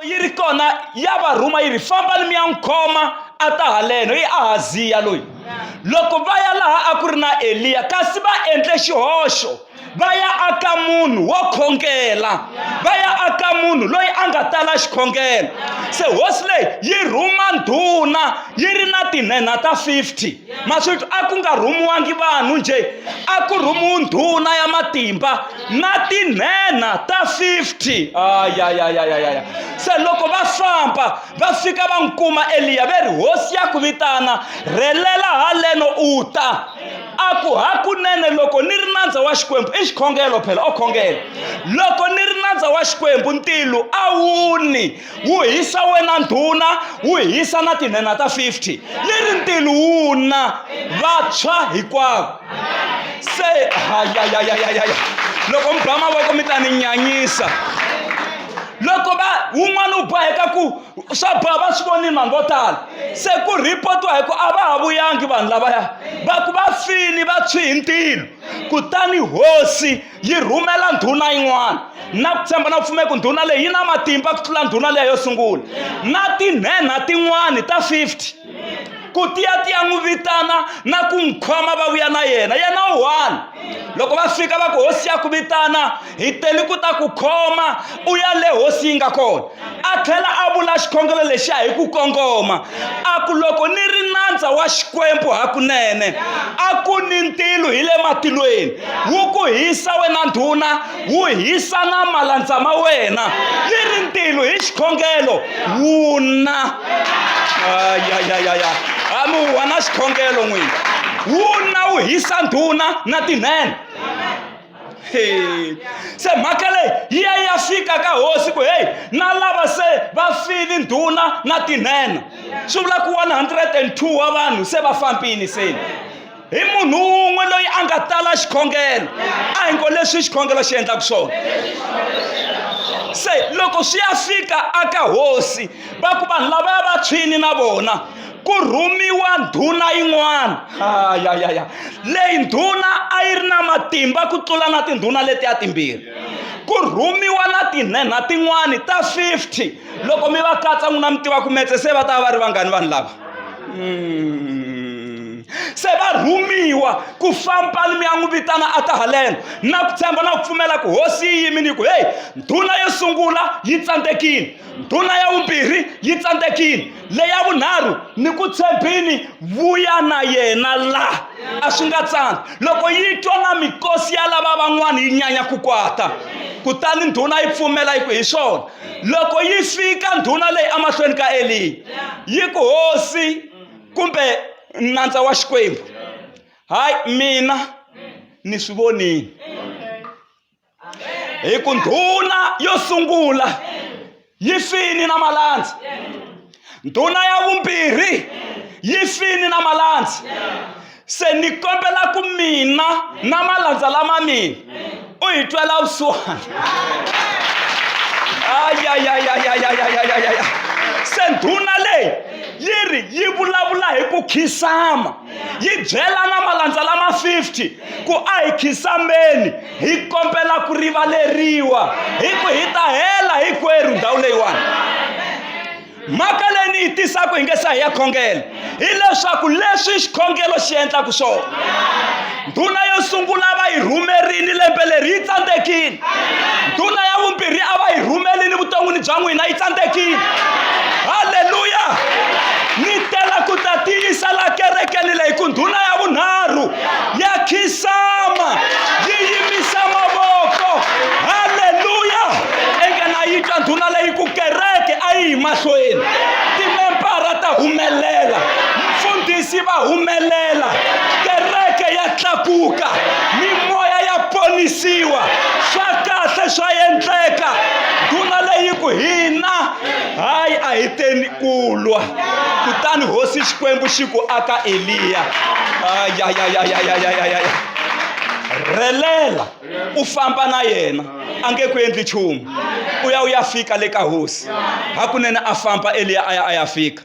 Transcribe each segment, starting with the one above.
yi ri kona ya va rhuma yi ri fambani mi ya n'wi khoma a ta haleno i ahaziya loyi loko va ya laha a ku ri na eliya kasi va endle xihoxo va ya aka munhu wo khongela va ya aka munhu loyi a nga tala xikhongelo se hosi leyi yi rhuma ndhuna yi ri na tinhenha ta 50 maswito a ku nga rhumiwangi vanhu njhe a ku rhumiwi ndhuna ya matimba na tinhenha ta 50 ayayayayaya se loko va famba va fika va n'wi kuma eliya ve ri hosi ya ku vitana rhelela haleno u ta a ku hakunene loko ni ri nandza wa xikwembu i xikhongelo phela o khongela loko ni ri nandza wa xikwembu ntilo a wu ni wu hisa wena ndhuna wu hisa na tinhenha ta 50 leri ntini wu na vantshwa hinkwavo se hayayayayaya loko mi ba mavoko mi ta ni nyanyisa loko va wun'wana u boheka ku swa ba va swi vonile vanhu vo tala se ku ripotiwa hi ku a va ha vuyangi vanhu lavaya va ku va fini va tshwi hi ntilo kutani hosi yi rhumela ndhuna yin'wana na ku tshemba na pfumela ku ndhuna leyi yi na matimba ku tlula ndhuna leyi yo sungula na tinhenha tin'wana ta 50 ku tiya tiya n'wi vitana na ku n'wi khoma va vuya na yena yena u one loko va fika va ku hosi ya ku vitana hi tele ku ta ku khoma u ya le hosi yi nga kona a tlhela a vula xikhongelo lexiya hi ku kongoma a ku loko ni ri nandza wa xikwembu hakunene a ku ni ntilo hi le matilweni wu ku hisa wena ndhuna wu hisa na malandza ma wena ni ri ntilo hi xikhongelo wu na ayayayaya ami wu wa na xikhongelo n'wini wu na wu hisa ndhuna na tinene Hey. se mhaka leyi yi ya ya fika ka hosi ku heyi na lava se va file ndhuna na tinhena swi vula ku 102 wa vanhu se va fambile seni hi munhu wun'we loyi a nga tala xikhongelo a hi ngo leswi xikhongelo xi endlaka swona se loko swi ya fika aka hosi va ku vanhu lavaya va tshwini na vona ku rhumiwa ndhuna yin'wana ayayaya leyi ndhuna a yi ri na matimba ku tlula na tindhuna leti ya timbirhi ku rhumiwa na tinhenha tin'wani ta 50 loko mi va katsa n'wina mi tiva ku metse se va ta va va ri vangani vanhu lava mm. se va rhumiwa ku famba mi ya n'wi vitana a ta haleno na ku tshemba na ku pfumela ku hosi yi yimini ku heyi ndhuna yo sungula yi tsandzekile ndhuna ya vumbirhi yi tsandzekile leya vunharhu ni ku tshembini vuya na yena la a swi nga tsandzi loko yi twa na mikosi ya lava van'wana yi nyanya ku kwata kutani ndhuna yi pfumela yi ku hi swona loko yi fika ndhuna leyi emahlweni ka eliya yi ku hosi kumbe nandza wa xikwembu hayi mina ni swi vonile hi ku ndhuna yo sungula yi fini na malandzi ndhuna ya vumbirhi yi fini na malandzi se ni kombela ku mina na malandza lama mina u hi twela vusiwana se ndhuna leyi yi ri yi vulavula hi ku khisama yi byela na malandza lama 50 ku a hi khinsambeni hi kombela ku rivaleriwa hi ku hi ta hela hinkwerhu ndhawu leyiwani mhaka leyi ni yi tisaka hi nge sa hi ya khongela hileswaku leswi xikhongelo xi endlaka swona ndhuna yo sungula va yi rhumerile lembe leri yi tsandzekile ndhuna ya vumbirhi a va yi rhumelini vuton'wini bya n'wina yi tsandzekile halleluya ni tela ku ta tiyisa la kerekeni leyi ku ndhuna ya vunharhu ya khisama yi yimisa mavoko halleluya enka na yi twa ndhuna leyi ku kereke a yi hi mahlweni timempara ta humelela mfundhisi va humelela kereke ya tlakuka mimoya ya ponisiwa swa kahle swa endleka ndhuna leyi ku hina hayi a hi teni ku lwa kutani hosi xikwembu xi ku aka eliya ayayayayayayaya rhelela u famba na yena a nge ku endli nchumu u ya u ya fika le ka hosi hakunene a famba eliya a ya a ya fika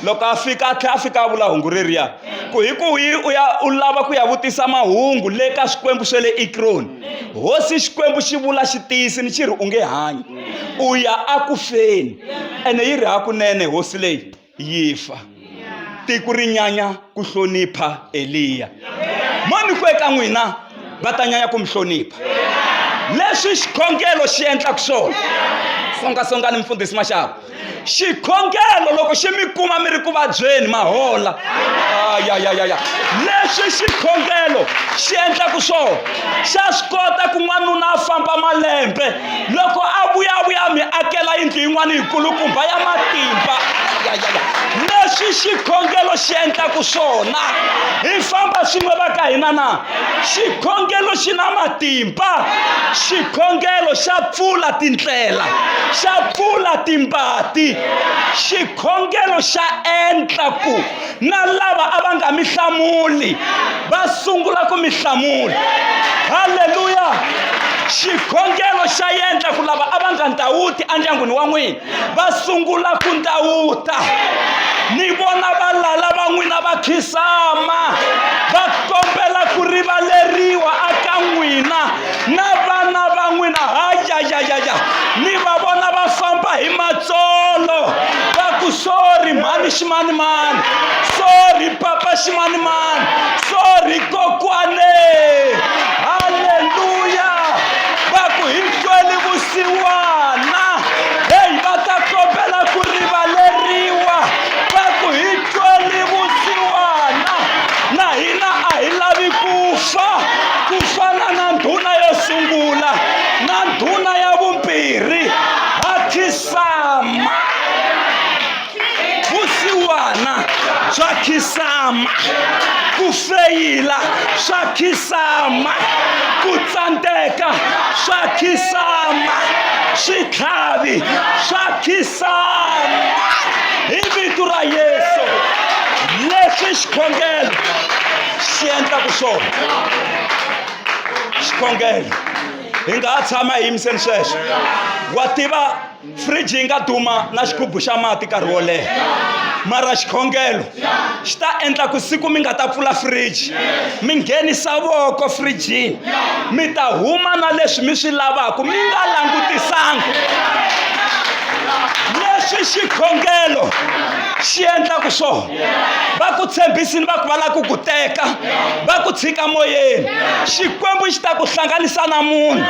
loko a fika a tlhela a fika a vula hungu reriya ku hi ku hi u ya u lava ku ya vutisa mahungu le ka swikwembu swa le ekroni hosi xikwembu xi vula xi tiyisini xi ri u nge hanyi u ya aku feni ene yi ri hakunene hosi leyi yi fa tiko ri nyanya ku hlonipha eliya mani ku eka n'wina va ta nyanya ku mi hlonipha leswi xikhongelo xi endlaka swona songasongani mfundhisi maxava xikhongelo loko xi mi kuma mi ri ku vabyeni mahola ayayayaya leswi xikhongelo xi endlaku swona xa swi kota ku n'wanuna a famba malembe loko a vuyavuya mi akela yindlu yin'wana yikulukumba ya matimba ayayaya leswi xikhongelo xi endlaku swona hi famba swin'we va ka hina na xikhongelo xi na matimba xikhongelo xa pfula tindlela xa pfula timbati xikhongelo xa endla ku na lava a va nga mi hlamuli va sungula ku mi hlamula halleluya xikhongelo xa yendla ku lava a va nga ndhawuti endyangwini wa n'wina va sungula ku ndawuta ni vona va lala va n'wina va khisama va kombela ku rivaleriwa aka n'wina na vana va n'wina hayayayaya ni va vona va famba hi matsolo va ku sori mhani ximanimani sori papa ximanimani sori kokwane xiwana heyi va ta kombela ku rivaleriwa va ku hi tweli vusiwana na hina a hi lavi ku fa ku fana na ndhuna yo sungula na ndhuna ya vumbirhi ha khisama vusiwana bya khisama ku feyila swa khisama ku tsandeka swa khisama switlhavi swa khisama hi vito ra yesu leswi xikhongelo xi endlaka swona xikhongelo hi nga ha tshama hi yimiseni sweswo wa tiva fridge yi nga duma na xigubu xa mati nkarhi wo leha mara xikhongelo xi ta endla ku siku mi nga ta pfula fridge mi nghenisa voko frijini mi ta huma na leswi mi swi lavaka mi nga langutisanga leswi xikhongelo xi endlaka swona va ku tshembisini va ku va lava ku ku teka va ku tshika moyeni xikwembu xi ta ku hlanganisa na munhu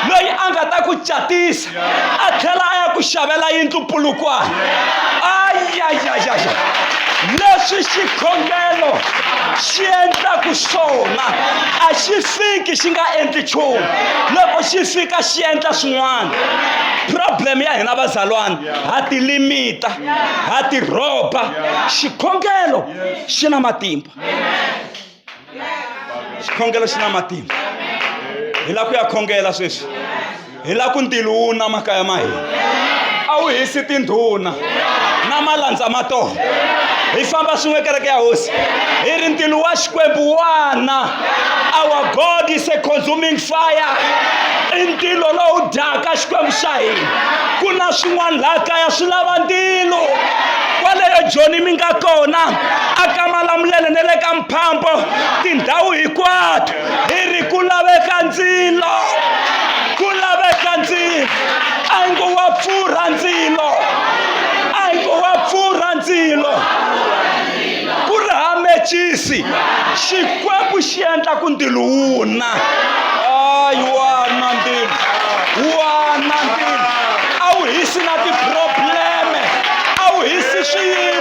loyi a nga ta ku catisa a tlhela a ya ku xavela yindlu pulukwana ayayayaya leswi xikhongelo xi endlaku swona a xi fiki xi nga endli nchumu loko xi fika xi endla swin'wana problem ya hina vazalwana ha ti limita ha ti rhoba xikhongelo xi na matimba xikhongelo xi na matimba hi lava ku ya khongela sweswi hi lava ku ntilo wu na makaya ma hina a wu hisi tindhuna na malandza ma tona hi famba swin'we kereke ya hosi hi ri ntilo wa xikwembu wana our god is a consuming fire i ntilo lowu dyaka xikwembu xa hina ku na swin'wana laha kaya swi lava ntilo kwaleyo joni mi nga kona aka malamulele ne le ka mphambo tindhawu hinkwato hi ri ku laveka ndzilo ku laveka ndzilo a yi ngo wa pfurha ndzilo a yi ngo wa pfurha ndzilo ku ri ha mechisi xikwembu xi endla ku ndilo wu na ayi wana ndilo wana ndilo a wu hisi na tiprobleme a wu hisi swiyimo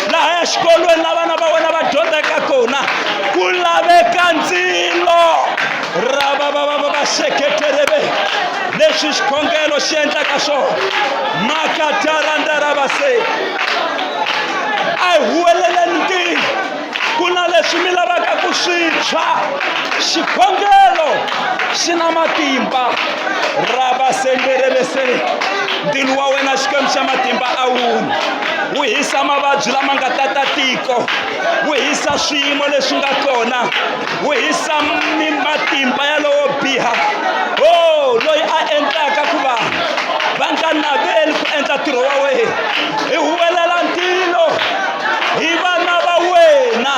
laha ya xikolweni la vana va wena va dyondzaka kona ku laveka ndzilo ra va va va va va seketereve leswi xikhongelo xi endlaka swona makataranda ra vase a hi huweleleni ntirho ku na leswi mi lavaka ku swi tshwa xikhongelo xi na matimba rabasenderebesere ndilo wa wena xikwembu xa matimba a wuni wu hisa mavabyi lama nga tata tiko wu hisa swiyimo leswi nga kona wu hisa matimba ya lowo biha o oh, loyi a endlaka ku vanhu va nga naveli ku endla ntirho wa wena hi huwelela ntilo hi vana va wena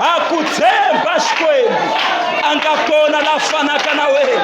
ha ku tshemba xikwembu a nga kona la fanaka na wena